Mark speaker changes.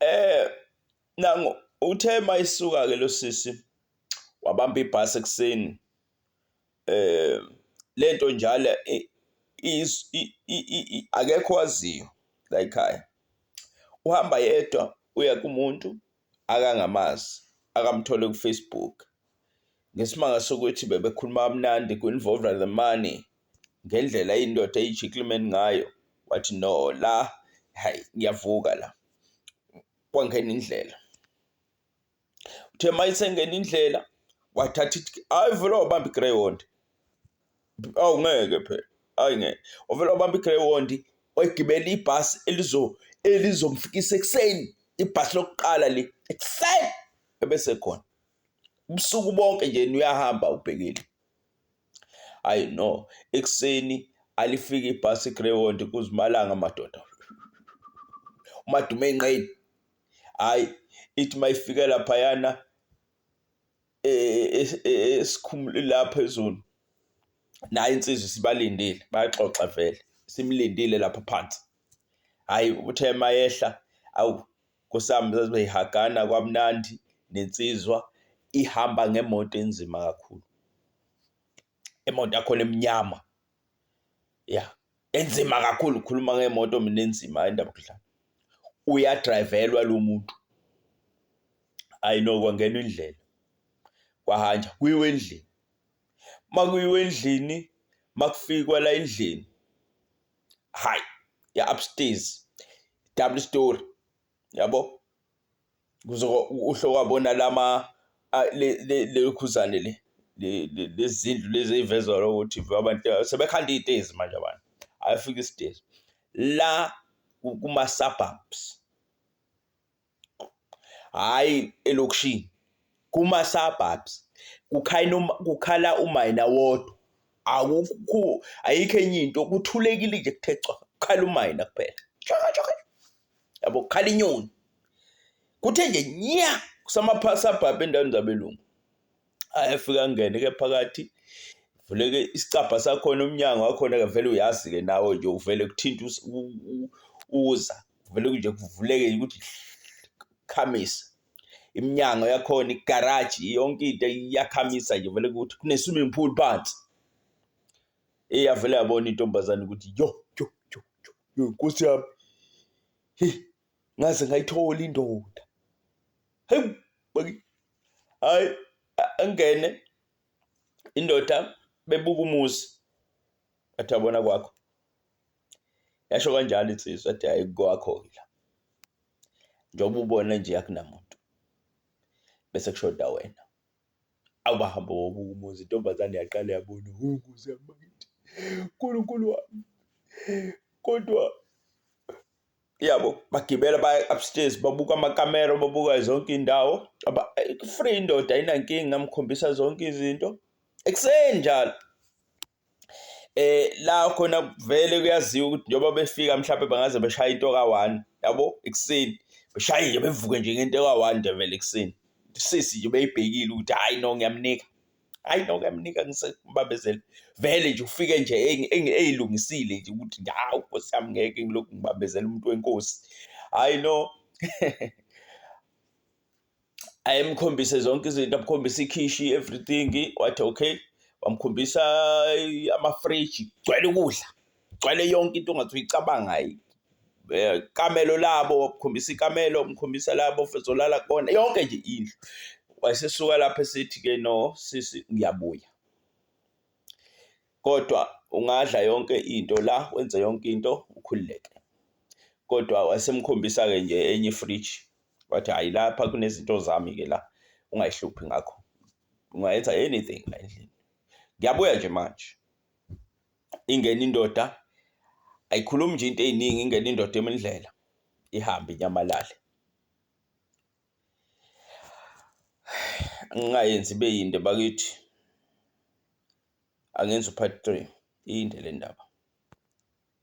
Speaker 1: Eh nangu uthe mayisuka ke losisi wabamba ibhasi ekuseni eh lento njalo akekho waziyo la ekhaya uhamba yedwa uya kumuntu akangamazi akamthole ku-Facebook ngesimanga sokuthi bebekhuluma kamnandi ku-involve the money. ngendlela indoda eyiGentleman ngayo wathi no la hhayi ngiyavuka la. Kwangena indlela, uthe uma isengena indlela wathatha ithi hhayi vele wabamba i-greyhound, awu ngeke phela hhayi ngeke. Wavele wabamba i-greyhound wayigibela ibhasi elizo elizomfikisa ekuseni, ibhasi lokuqala le ekuseni ebesekhona ubusuku bonke nje uyahamba ubhekile. Ayi no, ekuseni alifike ibhasi iGreyhound kuzimalanga madoda. UMadumeyinqeni hhayi ithi mayifike laphayana e, e, e, esikhumule la phezulu nayo insizwa sibalindile bayaxoxa vele simlindile lapha phansi hhayi uthe mayehla awu Nkosami zaze beyihagana kwamnandi nensizwa ihamba ngemoto enzima kakhulu. Imoto yakhona emnyama. Ya, enzima kakhulu ukhuluma ngemoto mina enzima hayi indaba yokudlala. Uyadrayivelwa lo muntu. Hayi no kwangenwa indlela. Kwahanja kuyiwe endlini. Makuyiwe endlini makufikwa la endlini hayi ya upstairs double story yabo kuzoba uhlowabona lama lekhuzane le lezindlu lezi ezivezwa ukuthi abantu sebekhanda iy'tezi manje abantu ayafika isitezi la kuma-suburbs hhayi elokishini kuma-surbubs kukhala umayina wodwa akukho ayikho enye into kuthulekile nje kuthe cwaka kukhala umayina kuphela cwaka cwaka yabo kukhala inyoni kuthe nje nya kusamapha-surbub endaweni zabelungu ayefika angene ke phakathi vuleke isicabha sakhona umnyango wakhona ke vele uyazi ke nawe nje uvele kuthinta uza vele nje kuvuleke ukuthi khamisa iminyango yakhona igaraji yonke into iyakhamisa nje vele ukuthi kune-swimming pool phansi eyavele yabona intombazane ukuthi yo yo yo yo nkosi yami ngaze ngayithola indoda heyi hayi angene indoda bebuka umuzi athi abona kwakho yasho kanjalo insizwa athi hayi kwakho la njengoba ubona nje akunamuntu bese kushoda wena awubahamba wobuka umuzi intombazane yaqala yabona unguze amakithi unkulunkulu wami kodwa yabo bagibela baya upstairs babuka amakamera babuka zonke indawo aba eh, free indoda ayinankinga ngamkhombisa zonke izinto ekuseni njalo eh la khona vele kuyaziwa ukuthi njengoba befika mhlawumbe bangaze beshaya into ka-one yabo ekuseni beshaye nje bevuke nje ngento ka-one nje vele ekuseni sisi nje beyibhekile ukuthi hhayi no ngiyamnika hayi noko yamnika ngisembambezele vele nje ufike nje eyilungisile nje ukuthi hawu nkosi yami ngeke ngilokhu ngibambezela umuntu wenkosi hayi no ayemkhombise zonke izinto amkhombise ikhishi everything wathi okay wamkhombisa amafriji gcwele ukudla kugcwale yonke into ongathi uyicabanga eh, kamelo labo wakukhombisa ikamelo umkhombisa labo fezolala kona yonke nje indlu wayesesuka lapho esithi ke no sisi ngiyabuya kodwa ungadla yonke into la wenze yonke into ukhululeke kodwa wasemkhombisa ke nje enye ifridge wathi hayi lapha kunezinto zami ke la ungayihluphi ngakho ungayenza anything la endlini ngiyabuya nje manje ingena indoda ayikhulumi nje into eziningi ingena indoda emindlela ihambe inyamalale ngingayenzi ibe yinde bakithi angenza upart 3 iyinde le ndaba